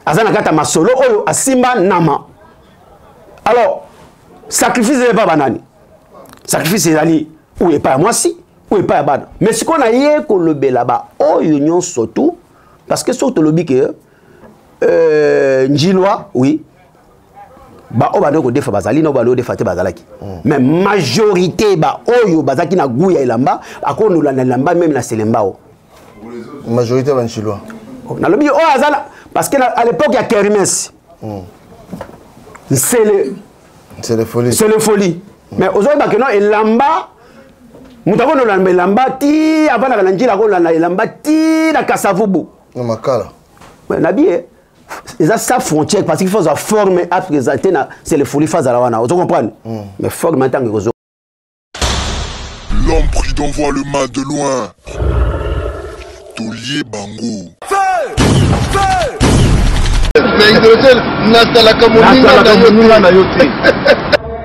aza na kati ya masolo oyo asimba nama alors sacrifice ezali epai banani sacrifice ezali oyo epai ya mwasi oyo epai ya bana mais sikoyo naye kolobela baoyo nyonso tu parce que soki tolobi ke euh, njilwa oui baoyo bandaki kodefa bazali nao baloyo defa te bazalaki mm. mais majorité baoyo bazalaki na gout ya elamba akonola na elamba meme na selembao majorité banchilois oh, nalobi oyo oh, azala parce que à l'époque ya kermes mm. nsele nsele folie mm. mais ozoyeba keno elamba moto akonola na elamba ti avandaka na njila akonola na elamba ti na kasavubu na makala nabi ye eza sa frontière parce qu'il faut azwa forme apresente na selefoli fa azala wana ozo comprendre mm. mais forme ntango ekozo l'homme prudent voit le mal de loin tolie bango na idolotele nasalaka moninga na yo te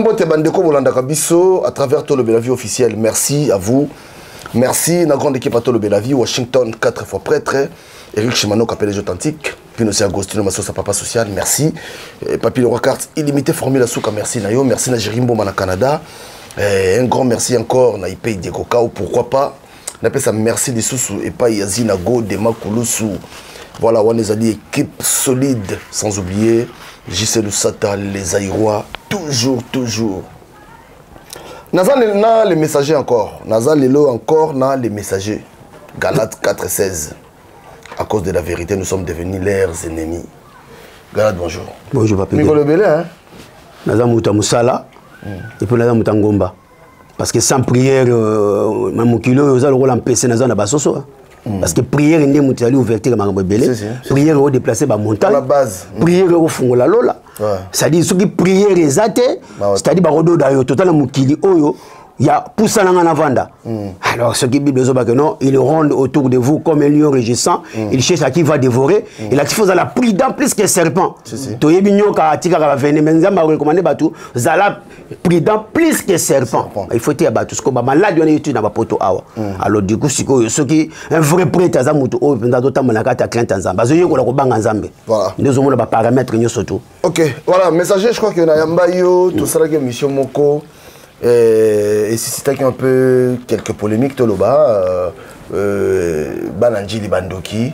mbote bandeko bolandaka biso à travers tolo belavi officiel merci à vous merci na grande équipe à tolo belavi washington 4 fois prêtre eric chimano capelege authentique puis aussi agostino masosa papa social merci eh, papi leroy carte illimité formule asuka merci na yo merci na jerimboma na canada eh, un grand merci encore na ipei diego kao pourquoi pas napesa merci lisusu epai ya zina go dema kulusu voilà wana ezali équipe solide sans oublier jc lusata les airois toujours toujours naza na le messager encore naza lelo encore na le messager galate 416 à cause de la vérité nous sommes devenus leurs ennemis galate bonjour bonjour papamikolo ebele hein naza moto ya mosala hmm. epuis naza moto ya ngomba parce que sans prière euh, na mokili oyo oza lokola mpese naza na basoso hein. Mm. parce que prière nde moto ezali ouverture ya makambo ebele prière eko déplace bamontagne mm. prière ekofungola lola c'est-à-dire soki prière eza te c'est-à-dire bakododa yo totala mokili oyo ya pusana nga navanda mm. alors soki bible ezobake non il ronde autour de vous comme un lion régissant mm. il cherche à qui va dévorer mm. il ati fozala prudent plus que serpent toyebi nyoka atikaka bavene mais nzambe arecommande bato zala prudent plus que serpent il faut eteya bato sikoyo bamaladi wana eyoti na bapoto awa mm. alors du coup sikoyo soki un vrai prêtre aza moto oyo mpenza azotambola kati ya crainte ya nzambe azoyekola kobanga nzambe nde ozomona baparametre nyonso tu ok voilà messager je crois que nayamba yo mm. tosalaki émission moko eh, esisitaki un peu quelques polémiques toloba euh, euh, bana njili bandoki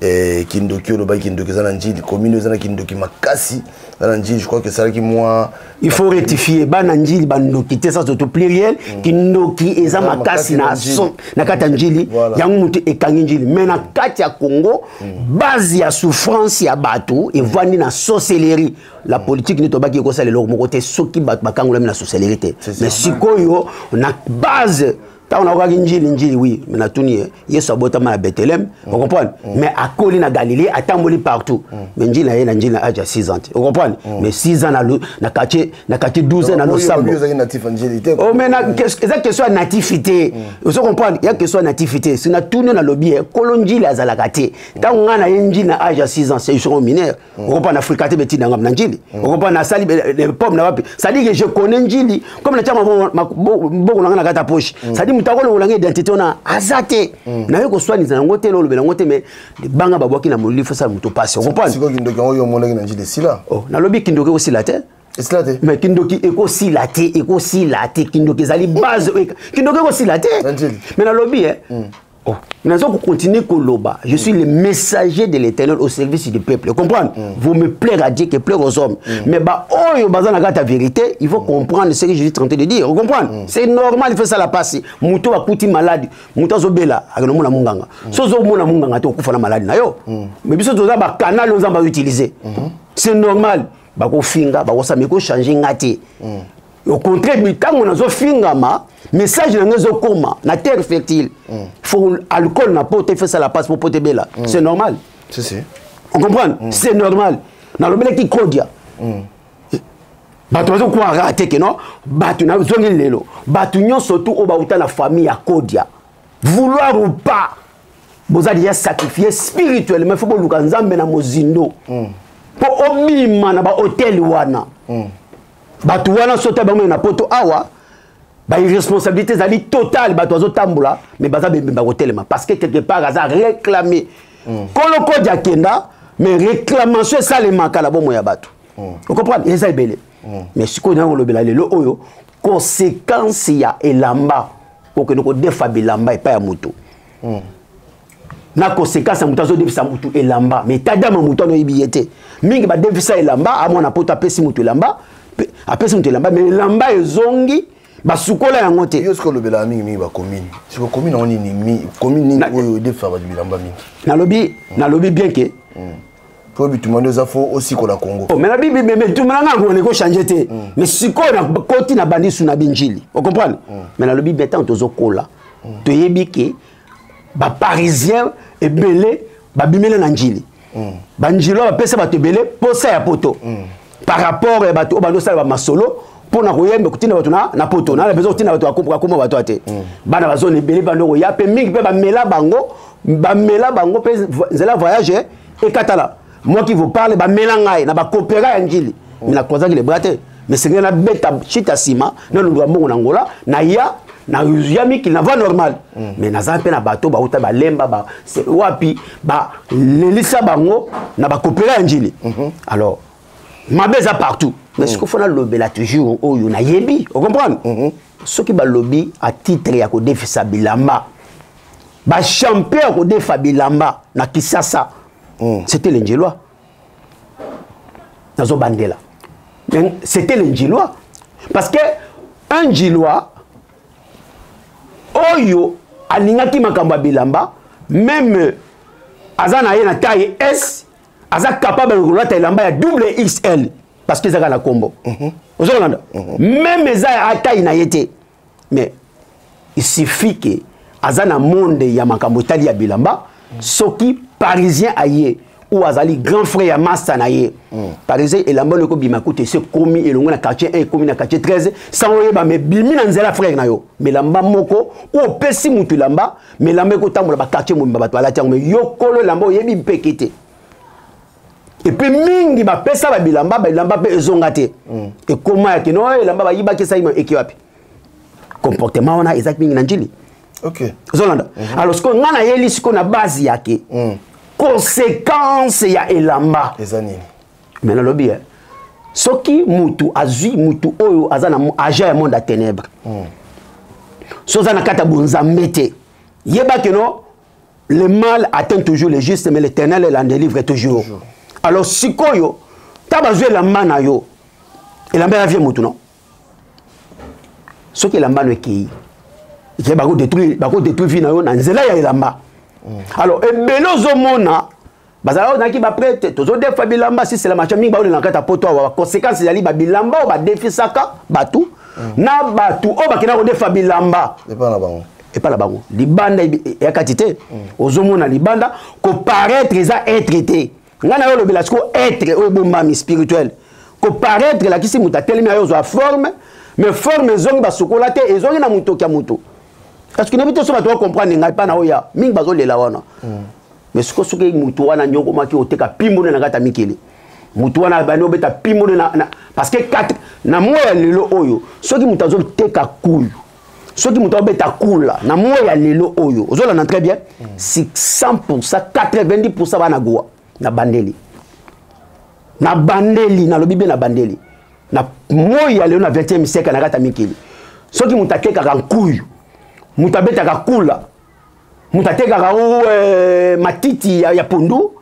eh, kindoki olobaki kindoki eza na njili commune eza na kindoki makasi eza na njili je crois que esalaki mwa il faut rectifier bana njili bandoki te ça surtout pluriel mm. kindoki eza makasi na son na kati ya njili yango moto ekangi njili mais na kati ya congo mm. base ya souffrance ya bato evandi na sorcellerie la mm. politique nde tobaki ekosala eloko moko te soki bato bakangolami na sorcellerie te mais sikoyo na base ntango nakokaki njili njili wi me natuni ye yesu abotama na betheleme mm. ocomprendre mm. mais akoli na galilee atamboli partout mm. mais njili na ye na njili na age ya 6 ans te ocomprendre mm. mais 6 ans na quartier na quartier 12 na losambo oh, mais eza question ya natifi te mm. ozo comprendre ya question ya natifi te si natuni nalobi ye eh, kolo njili azalaka te ntango ngai na ye njili na age ya 6 ans c'est mineur Mm. okopa na frikate betina ngam na njili mm. okopa na sali pomme na wapi c'est-à-dire que je connais njili comme na tiama boko na nga na kata poche mm. c'est-à-dire moto akolongola nga identité wana aza te naye koswanisa yango te lolobela yango te mais libanga babwaki na molili fosala moto pasi okopanasikoyo kindoki yango yo omonaki na njili esila oh, nalobi kindoki ekosila te esila te mais kindoki ekosila te ekosila te kindoki ezali base kindoki ekosila te mais nalobi e Oh. naza kocontinue koloba je suis mm. le messager de l'éternel au service du peuple comprendre mm. vous me plaire à dieu que plaire aux hommes mm. mais baoyo baza na kati ya vérité il faut mm. comprendre ce que je suis tenté de dire comprendre mm. c'est normal il faut esala mpasi moto oyo akuti maladi moto azobela akende omona monganga mm. so ozomona monganga te okufa na maladi na yo mm. mais biso toza bakanal oyo nzambe azoutilize mm -hmm. c'est normal bakofinga bakosami ekochange nga te mm. au contraire bitango nazo fingama message na ngai ezokoma na terre fertile mm. faut alcool na poto efesala passe po poto ebela mm. c'est normal si, si. on comprendre mm. c'est normal nalobelaki kodia mm. bato bazokwaka te ke no bato nazongi lelo bato nyonso tu oyo bauta na famille ya kodia vouloir ou pas boza deja sacrifie spirituellement ifo boluka nzambe na mozindo mpo mm. obima na bahotel wana mm. bato wana soki ta bango na poto awa bairresponsabilité ezali totale bato bazotambola mais baza bembe bakotelema parce que quelque part aza réclame mm. kolokodi akenda mais réclamation esalemaka na bomoi ya bato mm. ocomprendre eza ebele mm. mais sikoyo nanga kolobela lelo oyo conséquence ya elamba okende kodefa bilamba epai ya moto mm. na conséquence ya moto azodefisa motu elamba mais tadama motu wana oyebi ye te mingi badefisa elamba amwana poto apesi motu elamba apesi motu elamba mais elamba ezongi basukola yango te yo soki olobelaka mingimingi bakomine siko komine yango nini komine nini oyo edefisa bato bilamba mingi nalobi nalobi bien ke hmm. po bituma nde eza fo osikola congo oh, mena bibi me bituma nanga yango nako change te hmm. mais sikoyo nakoti na bandi su na binjili ocomprendre hmm. me nalobi bien ntango tozokola toyebi ke ba parisiens ebele babimela na njili mm. banjili oyo bapesa bato ebele posa ya poto mm. par rapport ya bato oyo bandosala bamasolo mpo na koyemba kotinda bato na poto na bezo kotinda bato akoma bato ya te mm. bana bazona ebele bando koya mpe mingi mpe bamela bango bamela bango mpe nzela voyage ekatala moi qui vous parle bamela ngai na bakopera ya njili oh. me nakwazaki lebra te mesengeli nabeta shita nsima nalundwa mbongo na ngola naya nazuya mikili na va normal mm. mais naza mpe na bato bauta balemba ba, wapi balelisa bango na bakopela ya njili mm -hmm. alors mabe eza partout mais mm. sikofo nalobela toujours oyo nayebi ocomprendre mm -hmm. soki balobi a titre ya kodefisa bilamba bachampion ya kodefa bilamba na kisasa mm. c'était le njelois nazo bandela c'était le njelois parce que un njelois oyo alingaki makambo ya bilamba meme aza na ye na taille s aza capable ya kolata elamba ya double xl parce que ezaka na nkombo mhm. ozokolanda mhm. meme eza ya taille na ye te mais il suffit que aza na monde ya makambo etali ya bilamba soki parisien aye ou azali grand frère ya masta na ye hmm. par exemple elamba loko bima kutu esi ekomi elongo na quartier 1 ekomi na quartier 13 sango oyeba me bimi na nzela frère na yo melamba moko ou opesi motu elamba melamba ekotambola baquartier mobimba bato balati yango me yo kolo elamba oyebi mpeke te epe mingi bapesa babilamba bilamba mpe ezonga te mm. ekoma ya kino oh, elamba bayibaki esali eke wapi comportement wana ezalaki mingi na njili okay. ozolanda mm -hmm. alors sikoyo ngai nayeli sikoyo na base yake mm. conséquence ya elamba eza nini me nalobi eh, soki mutu azwi mutu oyo aza na agent ya monde ya ténèbre mm. so oza na kati ya bonzambe te yeba keno le mal atteint toujours le juste mais l'éternel est l'en délivre toujours. toujours alors sikoyo ta bazwi elamba na yo elamba ya vie motu no soki elamba no ekei eke bakodetruire vie na yo na nzela ya elamba mm. alors ebele ozomona bazalaka ozalaki baprete tozodefa bilamba sisela macha mingi baoyo na kati ya poto awa baconsequence ezali babilamba oyo badefisaka bato mm. na bato oyo bakenda kodefa bilamba epa na bango epa na bango libanda ya kati te mm. ozomona libanda koparaître eza etre te ngai nayo olobela sikoyo etre oyo ebombami spirituel koparaître elakisi moto atelemi ayo ozwa forme mais forme ezongi basukola te ezongi na motoki ya moto parce que nayebi te so bato bacomprendre ngai mpa na oya mingi bazolela wana mm. mais siko soki motu wana nyokomaki oteka pimbone na kati ya mikili motu wana abandi obeta pimbone parce que na moi ya lelo oyo soki moto azoteka kuyu soki moto abeta kula na moi ya lelo oyo ozolanda très bien 600 90 bana goa na bandeli na bandeli nalobi be na bandeli na moi ya lelo na 20e siècle na kati ya mikili soki moto atekaka nkuyu moto abetaka kula moto atekaka o eh, matiti ya, ya pondu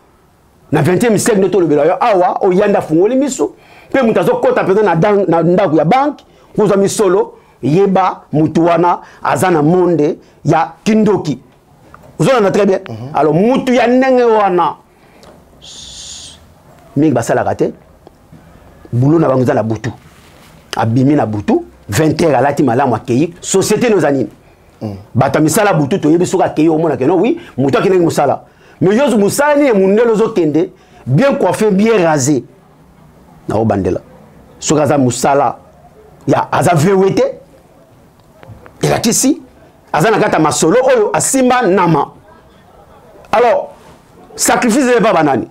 na 20e siècle nde tolobela yo awa oyanda afungoli miso mpe moto azokɔta mpenza na ndako ya banke kozwa misolo yeba motu wana aza na monde ya kindoki ozolanda très bien mhm. alors mutu ya ndenge wana mingi basalaka te bulo na bango eza na butu abimi na butu 20 heures alati malamu akei société no eza nini mm. bato ya misala butu toyebi soki akei omona keno wi moto akendaki mosala mais yo mosala nini mondele ozokende bien coiffe bien rase naobandela soki aza mosala ya aza vewe te elakisi aza na kati ya masolo oyo asimba nama alors sacrifice ezali epai banani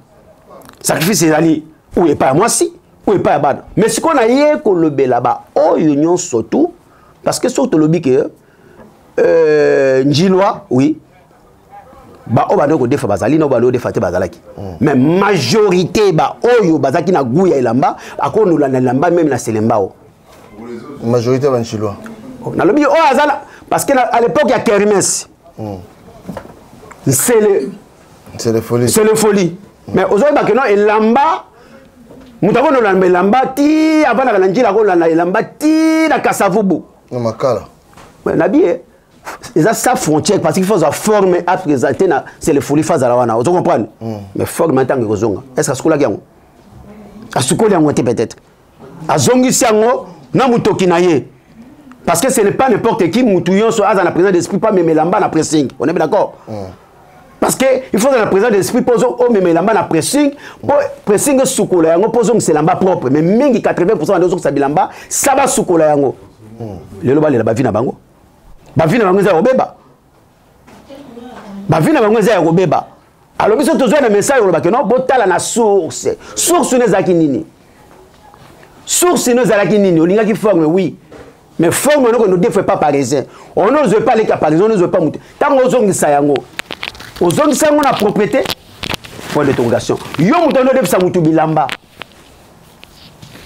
sacrifice ezali oyo epai ya mwasi oyo epai ya bana mais sikoyo naye kolobela baoyo nyonso tu parce que soki tolobi ke euh, njilwa oui baoyo bandeki kodefa bazali na oyo bandeki kodefa te bazalaki mm. mais majorité baoyo bazalaki na gout ya elamba akonola na elamba meme na selembao majorité ya banchilwa nalobi oyo azala parce que à l'époque ya kermes hmm. nsele nsele folie nsele folie mais ozoyeba keno elamba moto akoki nolanda elamba ti avandaka na njila akolanda elamba ti na kasavubu na makala na biye eza sa frontière parce qu'il faut ozwa forme apresente na selefoli fa azala wana ozo comprendre hmm. mais forme ntango ekozonga est ce que asukolaki yango asukoli yango te peut-être azongisi yango na motoki na ye parce que ce n'est pas n'importe qui mutu yonso aza na présent d'esprit pas meme lamba na pressing on est bien d'accord mm. parce que il faut na présent d'esprit po o meme lamba na pressing po pressing sukola yango po zongisa lamba propre mais mingi 80% na zongisa bilamba ça va sukola yango mm. lelo balela bavi na bango bavi na bango eza ya kobeba bavi na bango eza ya kobeba alors biso tozwa na message oloba ke no botala na source source no ezalaki nini source no ezalaki nini olingaki forme oui mais forme noko no defre pas parisien ono ozwe pa leka parisien ono ozwe pa moto ntango ozongisa yango ozongisa yango na propriété point d'interrogation yo moto ono odefisa motu bilamba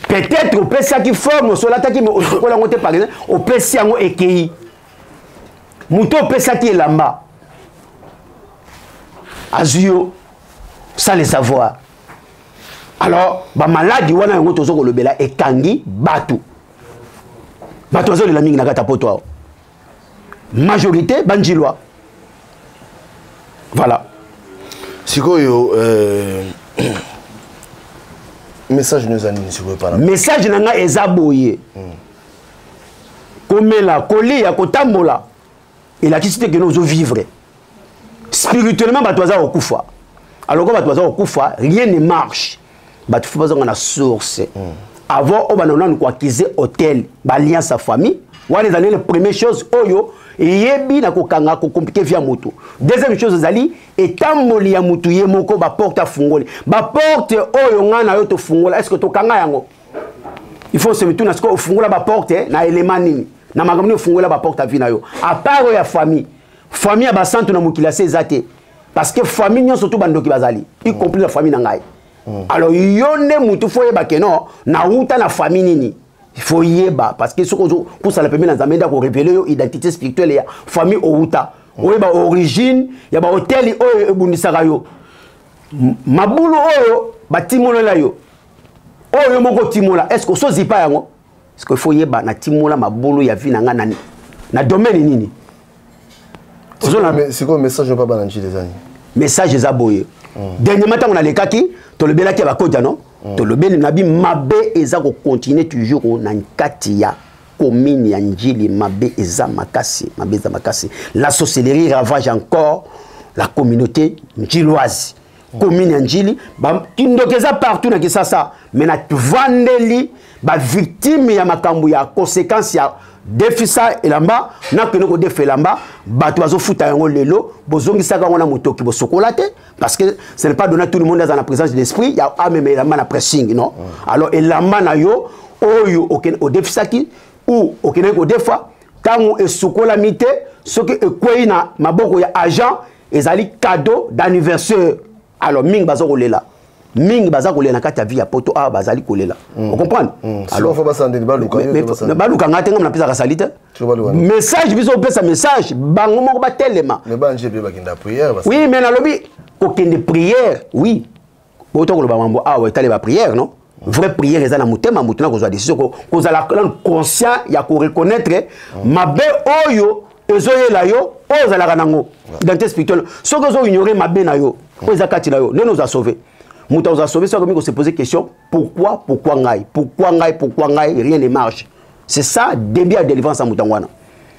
peut-être opesaki forme osolataki me osokola yango te par exemple opesi yango ekei moto opesaki elamba azwi yo sans le savoir alors bamaladi wana yango tozo kolobela ekangi bato bato bazolela mingi na kati ya poto awa majorité banjilwa voilà sikoyo euh... message no eza nini sikoyo pana message na ngai eza boye mm. komela kolia kotambola elakisi te kene ozovivre spirituellement bato baza kokufa alors ko bato baza kokufa rien ne marche bato fo bazonga na source mm. avant oyo banda nanu koakize hotel balien sa famille wana ezali le première chose oyo eyebi na kokanga kokomplike vi ya moto deuxième chose ezali etamboli ya moto ye moko baporte afungoli baporte oyo ngai na yo tofungola estce tokanga yango il faut se mituna sikoyo ofungola baporte eh, na elema nini na makambo nini ofungola baporte ya vi na yo apart oyo ya famille famille ya basantu na mokili ya se eza te parce que famille nyonso tu bandoki bazali y compris na famille na ngai mm. alors yo nde motu fo oyeba ke non nawuta na famille nini fo yeba parce que soki ozopusana pembe na nzambe nde akorevele yo identité spirituelle ya famille owuta mm. oyeba origine ya bahoteli oyo ebundisaka yo mabulu oyo batimolela yo oyo yo moko otimola est ce que osozipa yango parce que faut yeba na timola mabolo ya vie na nga na na domaine nini sikoyo message oyo babana njili ezani message eza boye mm. dernièrement ntango nalekaki tolobelaki ya bakodia no mm. tolobeli na bi mabe eza kocontinue toujours na nkati ya commune ya njili mabe eza makasi mabe eza makasi la sorcellerie ravage encore la communauté njiloise commune ya njili kindoki eza partout na kisasa me na vandeli bavictime ya makambo ya conséquence ya defisa elamba nakende kodefa elamba bato bazofuta yango lelo bozongisaka yango na motoki bosokola te parce que ce n'est pas donné tout le monde aza na présence de l'esprit ya amema ah, elamba na pressing non alors elamba na yo oyo odefisaki ou okendaki kodefa ntango esukolami te soki ekwei na maboko ya agent ezali cadeau d'anniversaire alors mingi baza kolela mingi baza kolela na kati ya vie ya poto awa bazali kolela mm. ocomprendre mm. baluka ngai te ngai napesaka sali te message biso opesa message bango moko batelema oui mais nalobi kokende prière oui oyo tokoloba mambo awa etali bapriere no vraie prière eza na motema moto na kozwa décision kozala nanu conscient ya koreconnaitre mabe oyo ezoyela yo oyo ozalaka nango identité spirituelle soki ozoignore mabe na yo oyo eza kati na yo ndeni oza sauve moto akozala sauve soki akomi kose pose question pourquoi pourquoi ngai pourquoi ngai pourquoi ngai rien ne marche c'est ça début ya délivrance ya moto yango wana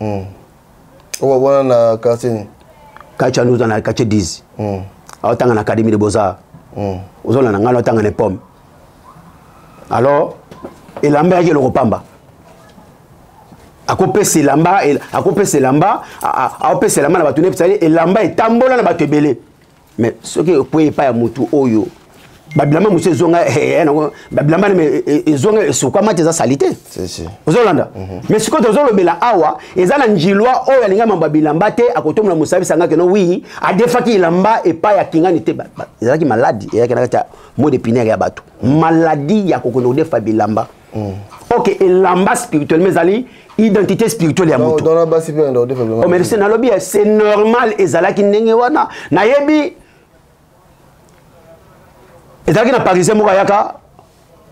hmm. oyo wana na quartier nini quartier wana ozana quartier 10 hmm. aotanga na académie de beaux-arts hmm. ozona na ngai naotanga na pomme alors elamba yaki eloko pamba akopesa elamba akopesa elamba aopesa elamba na bato nde esali elamba etambola na bato ebele mais soki okwei epai ya motu oyo babilamba mosusu ezonga eh, eh, eh, nango babilamba ezonga esukwama te eza sali te ozolanda mhm. mais sikoyo tozolobela awa eza na njilwa oyo alinga mambo ya bilamba te akotombola mosabi sanga keno wi adefaki elamba epai ya kingani te ezalaki maladi eyaki na kati ya mode pinaire ya bato maladi ya kokende kodefa bilamba hmm. ok elamba spirituellement ezali identité spirituelle ya moto oh, merci nalobi eh, c'est normal ezalaki ndenge wana nayebi ezalaki na parisien moko ayaka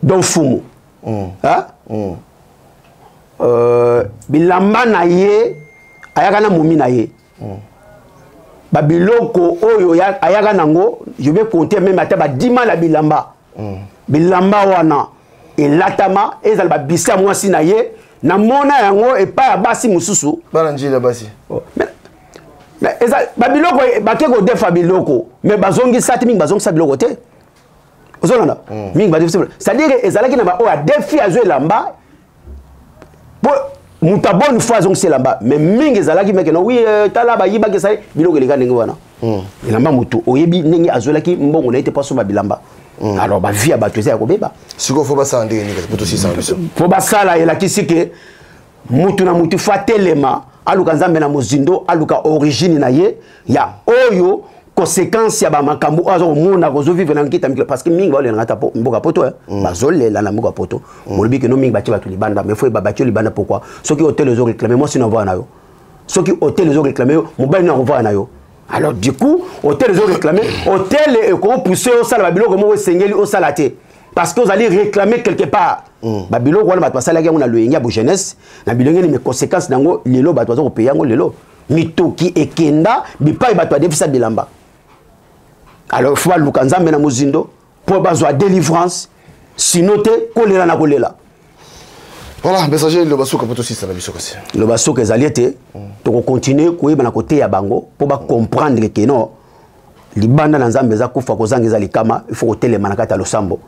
don fumu hmm. hmm. euh, bilamba na ye ayaka na momi na ye babiloko oyo ayaka nango je vais compter meme ata badima na bilamba mm. bilamba wana elatama ezala babisa mwasi na ye namona yango epai ya basi mosusu bana njili ya basi oh. babiloko e, bake kodefa biloko me bazongisa te mingi bazongisa biloko te ozolanda mm. mingi badefisa c'est-à-dire ezalaki na baoyo adefi azwi elamba po moto abone fois azongisi elamba mais mingi ezalaki meke na wi euh, tala bayibaki esali biloko eleka ndenge wana hmm. elamba moto oyebi ndenge azwelaki mbongo na ye te po asomba bilamba hmm. alors bavie ya bato eza ya kobeba sikoyo fo basala ndenge nini po tosisa biso fo basala elakisi ke motu na motu fo atelema aluka nzambe na mozindo aluka origine na ye ya oyo conséquence ya bamakambo oyo aza komona kozovivre na nkita mikila parce que mingi baolelanga ata mboka poto eh. mm. bazolela na mboka poto mm. molobi keno mingi batie bato libanda mais fo babati yo libanda pourkoi soki hotel ezo réclame mwasi na ovaa na yo soki hotel ezo réclame yo mobali na kovaa na yo alors du coup hotel ezo réclame hotel ekopousse osala babiloko moko esengeli osala te parce que ozali réclame quelque part mm. babiloko wana bato basalaki yango na loyenge ya bojeunesse na bilenge ni meconséquence na yango lelo bato baza kopeya yango lelo mitoki ekenda bipai bato adefisa bilamba alors fo baluka nzambe na mozindo mpo bazwa délivrance sino te kolela na kolela voilà messager loba suka mpo tosisa na biso kasi loba suka ezali ete tokokontinue koyeba na koteya bango mpo bacomprendre ke non libanda na nzambe eza kufa kozanga eza likama il faut kotelema na kati ya losambo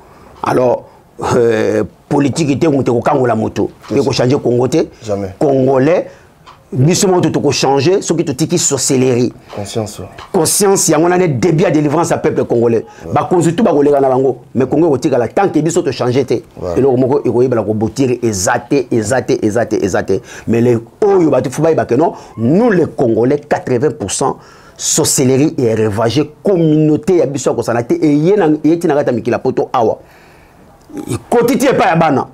alors euh, politiki te moto ekokangola moto mpe kochange congo te congolais biso moko to changer soki totiki sorcellerie conscience conscience yango nane début ya délivrance ya peuple congolais bakonzi tu bakoleka na bango mais kongo ekotikala tant ke biso tochange te eloko moko ekoyebela kobotire eza te eza te eza te eza te mais le oyo bato fo bayebake non nous les congolais 80 pourcent sorcellerie et revage communauté ya biso ya kosana te eye ti na kati ya mikila poto awa ekoti ti epai ya bana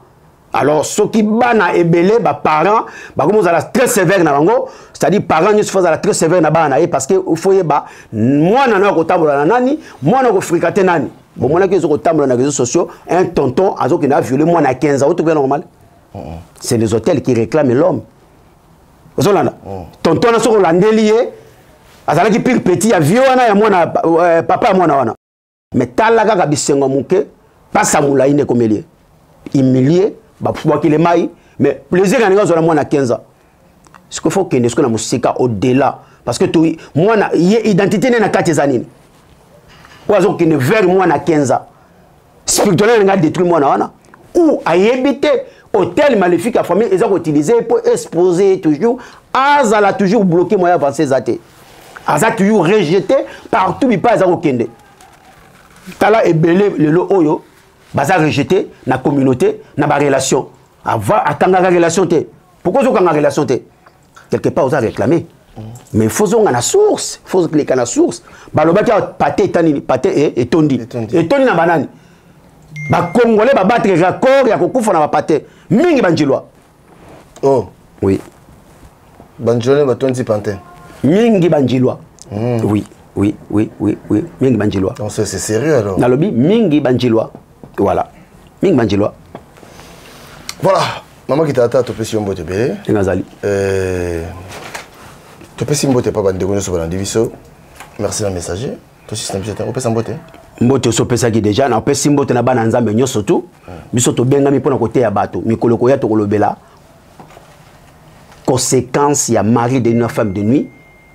alors soki bana ebele baparent bakomi ozala très sévère na bango c'est-à-dire parent nyonso fo azala très sévère na bana na ye parce que fo yeba mwana nayo akotambola na nani mwana akofrika te nani bomonaki ezo kotambola na réseaux sociaux un tonton azokende aviole mwana ya 15 auto kuya normal c'est les hôtels qui réclament l'homme ozolanda mm. tonton wana soki olandeli ye azalaki pire petit ya vie wana ya mwana euh, papa ya mwana wana me tala kaka bisengo moke pasa molai nde ekomeli ye humilie babwakile mai mais plaisir ya ndenge azwa na mwana 15 ans sikoy fo okende sikoy na mosika au delà parce que to mwana ye identité nde na kati eza nini oyo aza kokende vers mwana 15 ans spirituel alinga détruit mwana wana ou ayebi te hôtel maléfique ya famille eza koutilize ye mpo expose ye toujours azala toujours bloqué moyen avance eza te aza toujours rejete partout bipai aza kokende tala ebele lelo oyo baza rejete na communauté na barelation avant akangaka relation te pourkoi ozokanga relation te quelque part oza réclame mais fo zonga na source fo leka na source balobaki awa pate eta nini pate e, etondi etondi na banani bacongolais babattre record ya kokufa na bapate mingi banjilwa oh oui banjilwa batondi pantin mingi banjilwa mm. oui oui oui oui oui mingi banjilwa donc c'est sérieux alors nalobi mingi banjilwa voilà mingi banjilwa voilà mama kitata topesi yo mbote ebele ndenge azali euh, topesi mbote epa bandeko nyonso balandi biso merci na messager tosisi na biso te opesa mbote mbote osi opesaki deja na opesi mbote na bana ya nzambe nyonso tu biso tobengami mpo na koteya bato mikolo koya tokolobela conséquence ya mari de nuit na femme de nuit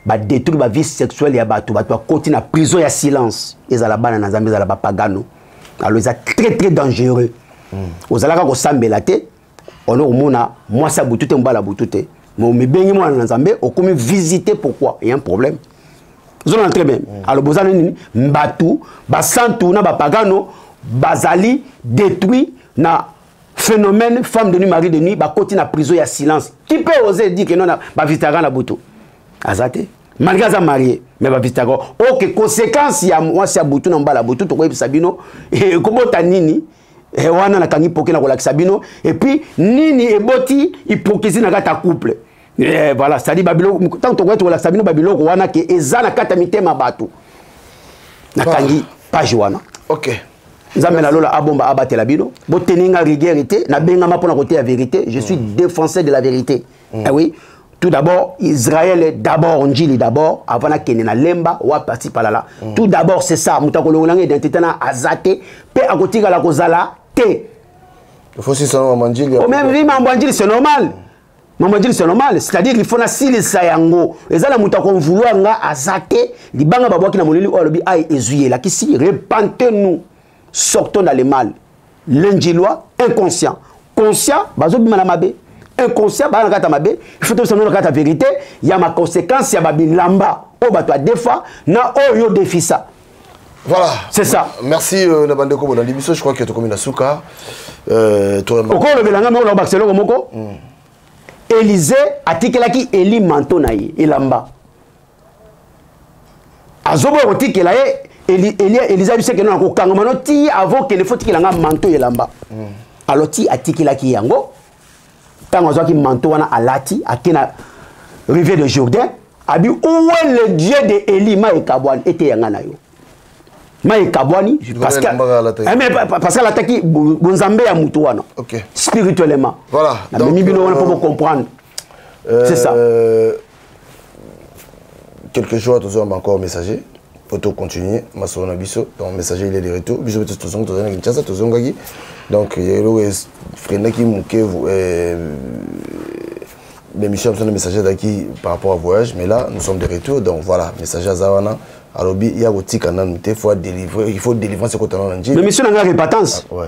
badétruit bavie sexuelle ya bato bato bakoti na prison ya silence ezala bana na nzambe ezala bapagano alo eza très très dangereux mm. ozalaka kosambela te ono komona mwasi ya butu te mobali ya butu te mais omibengi mwana na nzambe okomi visite pourquoi ya un problème ozolana très bien mm. aloba oza na nini bato basantu na bapagano bazali détruit na phénomène femme de nuit mari de nuit bakoti na prison ya silence qui peut oser dire que non bavisitaka na butu aza te malgré aza marie mais bavisitaka ok conséquence ya mwasi ya butu na mobala butu tokoyebisa bino ekobota eh, nini e wana nakangi mpoke na kolakisa bino epuis nini eboti hypocrisie na kati ya couple e voilà cetadi babiloko ntango tokoya tokolakisa bino babiloko wana ke eza na kati ya mitema bato nakangi page wana okay. nzambe na lola abomba abatela bino boteni nga rigueur te nabengama mpo na koteya verité je suis mm. défenseur de la vérité mm. eh oui tout d'abord israël d'abord njili d'abord avant nakende na lemba wapi ati palala mm. tout d'abord c'est ça moto akolongola nga identité na aza te mpe akotikala kozala te omeme vi mambo ya njili c'est normal mm. mambo ya njili c'est normal c'est-à-dire il faut nasilisa yango eza na moto akonvouloir nga aza te libanga babwaki na molili oyo alobi ai ezwi elakisi repente nous sortons dans le mal l'indjilois inconscient conscient bazobima na mabe inconscient baa na kati ya mabe il faut tobisa no na kati ya vérité ya maconséquence ya babilamba oyo bato ya defa na oyo yo defisa Voilà. C'est ça. Merci euh, na bande ko bona libiso je crois que tokomi na suka. Euh to remba. Okolo belanga mo na Barcelone moko. Mm. Élysée atikelaki Eli manto na ye elamba. azoboya kotikela ye elia eliza bisekeno na kokangama no ti avant kende fo tikela nga manto elamba mm. alors ti atikelaki ye yango ntango azwaki manto wana alati ake na rivière de jourdain abi owe le dieu de eli ma ekabwani eteya nga na yo ma ekabwani parce que eh, alataki bonzambe ya motu wana spirituellement namemi bino wana mpo bocomprendre euh, c'est ça quelques jours tozolamba encore messager po tocontinue masolo na biso donc messager il est de retour biso mpe tozongi tozali na kinshasa tozongaki donc eloko efreinaki moke l'émission ya biso na messager ezalaki par rapport à voyage mais là nous sommes de retour donc voilà messager aza wana alobi ya kotika nanu te faut délivrer il faut délivrance ekotana na njili mais mission na ngai repatance ah, ouais.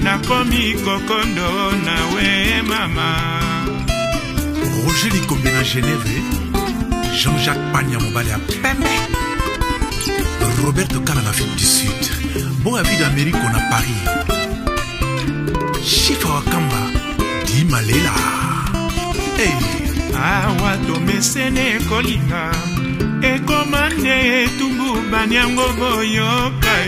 nakomi kokondo na we mama roger likombe na geneve jean-jacques pania mobali ya pembe roberto kala na afrique du sud boya vida americo na paris shifa wakamba dimalela hey. awa tomesene kolinga ekoma nde etumbu banyango boyoka